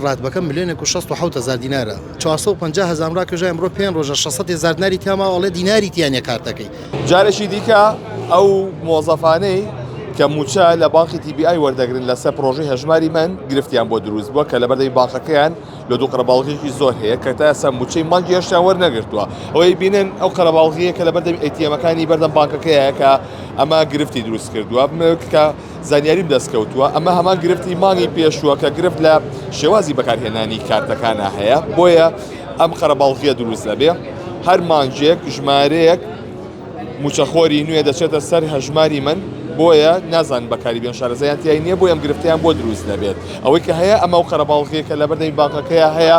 راتبەکە ملێۆنێک و شەست و حەوت هەزار دینارە چوار سەد و پەنجا هەزارم راکێشا ئەمرۆ پێنج رۆژە شەش سەد هێزار دیناری تیا ماوە ئەڵێ دیناری تیا نیە کارتەکەی جارێکی دیکە ئەو مۆزەفانەی کە موچە لە بانقی تی بی ئای وەردەگرن لەسەر پرۆژەی هەژماری من گرفتیان بۆ دروست بووە کە لەبەردەی بانقەکەیان لە دوو قەرەباڵغیی زۆر هەیە کە تا ئێستا موچەی مانگی هەشتیان وەرنەگرتووە ئەوەی بینن ئەو قەرەباڵغییە کە لەبەردەم ئەیتیەمەکانی بەردەم بانکەکەیە کە ئەمە گرفتی دروست کردووە کە زانیاریم دەستکەوتووە ئەمە هەمان گرفتی مانگی پێشووە کە گرفت لە شێوازی بەکارهێنانی کارتەکانە هەیە بۆیە ئەم قەرەباڵغیە دروست دەبێ هەر مانگێک ژمارەیەک موچەخۆری نوێ دەچێتە سەر هەژماری من بۆیە نازان بەکاری بێن شارەزایان تیای نییە بۆ ئەم گرفتیان بۆ دروست دەبێت ئەوەی کە هەیە ئەمە و قەرەباڵغیەکە لە بەردەی بانکەکەیە هەیە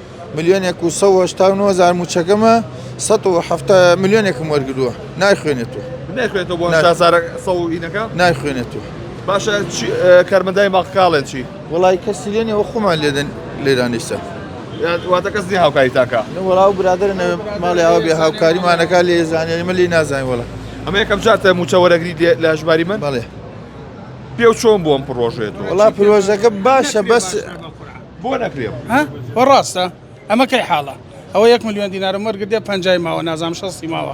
ملیۆنێک و سەد و هەشتا و نۆ هەزار مووچەکەمە سەد و حەفتا ملیۆنێکم وەرگرووە نایخوێنێتەوە نەخوێتەوە بۆ نای- شازارە سەوڵینەکە نایخوێنێتەوە باشە چی- ئە، کارمەندای ماقکاڵێن چی وڵی کەسی لێنەوە خۆمان لێدەن لێرانیسە یان واتە کەس نیە هاوکاری تاکە وڵا و برادر نەوێ ماڵێ ئەو بێ هاوکاریمانەکە لێ زانێنی مە لی نازانین وڵە ئەمە یەکەم جاتە موچە وەرەگری دێ لە هەژماری من بەڵێ پێ و چۆن بۆم پڕۆژێتەوە وڵا پرۆژەکە باشە بەس بۆ نەکرێ ها بۆ ڕاستە ئەمە کەی حاڵە ئەوە یەک میلیۆن دینارم وەرگدێ پنجای ماوە نازام شەستی ماوە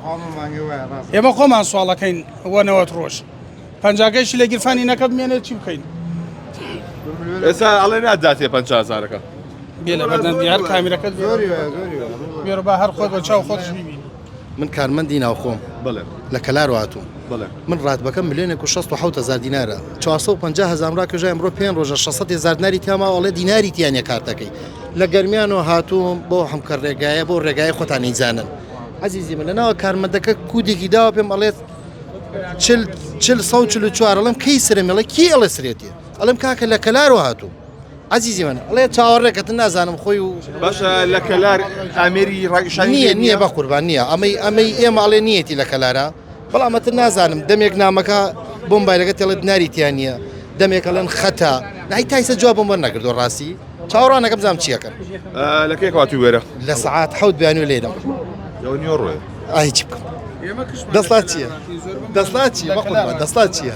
ئێمە خۆمان سوواڵەکەین وەنەوەت ڕۆژ پنجاگەیشی لە گیرفانی نەکە بمێنێت چی بکەین ئێستا ئەڵێ ناداتێ پنج هزارەکە بێ لە بەردەم دیار کامیرەکەت بێرە با هەر خۆت بە چاو خۆش ببین من کارمەندی ناوخۆم لە کەلار هاتووم من ڕاتبەکە ملێنێک و 16 هزار دینارە 450 هزار ڕاکەژای ئەمڕۆ پێ ڕۆژە 600 هزار دیناری تیاماوەڵێ دیناری تیانە کارتەکەی لە گەرمیانەوە هاتووم بۆ حمکە ڕێگایە بۆ ڕێگای خۆتانی زانن عزیزی من لەناوە کارمەندەکە کودێکی داوە پێم ئەڵێت چل سە چل چوارڵم کەی سرمەڵە کی ئەڵە سرێتی ئەڵم کاکە لە کەلارەوە هاتوو عەزیزی من ئەڵێ چاوەڕێکەتن نازانم خۆی و باشە لە کەلار ئامێری ڕایشانی نییە نییە بە قوربان نییە ئەمەی ئەمەی ئێمە ئەڵێ نیەتی لە کەلارە بەڵامەتر نازانم دەمێک نامەکە بۆم بایلەکە تێڵێت ناریتیان نییە دەمێکەڵێن خەتە نای تایسە جواب بۆم وەرنەگردو ڕاستی چاوەڕانەکە بزانام چیەکەن لە کێ کاتی وێرە لە سعات حەوت بیانوی لێدەم نیۆڕێ ئای چی بکەم دەسڵات چییە دەسڵات چیە دەسڵات چییە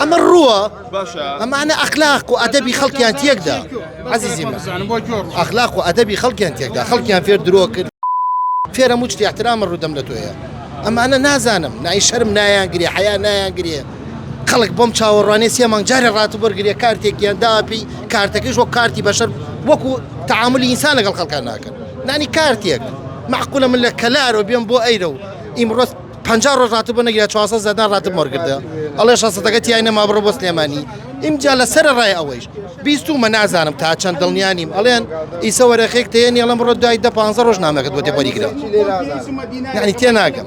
ئەمە ڕووە ئەمانە ئەخلاق و ئەدەبی خەڵکیان تێکدا عزیزی ئەخلاق و ئەدەبی خەڵکیان تێکدا خەڵکیان فێر درۆ کرد فێرە موچ احترامە ڕوودەم لە تۆیە ئەمانە نازانم نای شەرم نایان گرێ حیا نایان گرێ خەڵک بۆم چاوەڕوانێ سێ مانگ جارێ ڕات بەرگرێ کارتێکیان داپی کارتەکەش وەک کارتی بەشەر وەکو تعاملی ئینسان لەگەڵ خەڵکان ناکەن نانی کارتێک معقولە من لە کەلارۆ بێم بۆ ئەیرە و ئیمڕۆست پەنجا ڕۆژ ڕاتب نەگیرا چواسە زەدان ڕاتب مۆرگردە ئەڵێ شەسەتەکە تیای نەما بڕۆ بۆ سلێمانی ئیمجا لە سەر ڕای ئەوەیش بیستومە نازانم تا چەند دڵنیانیم ئەڵێن ئیسە وەرەخێک تێنی ئەڵم بڕۆ دوای دە پ ڕۆژ نامەکەت بۆ تێپەری گرە یعنی تێ ناگەم.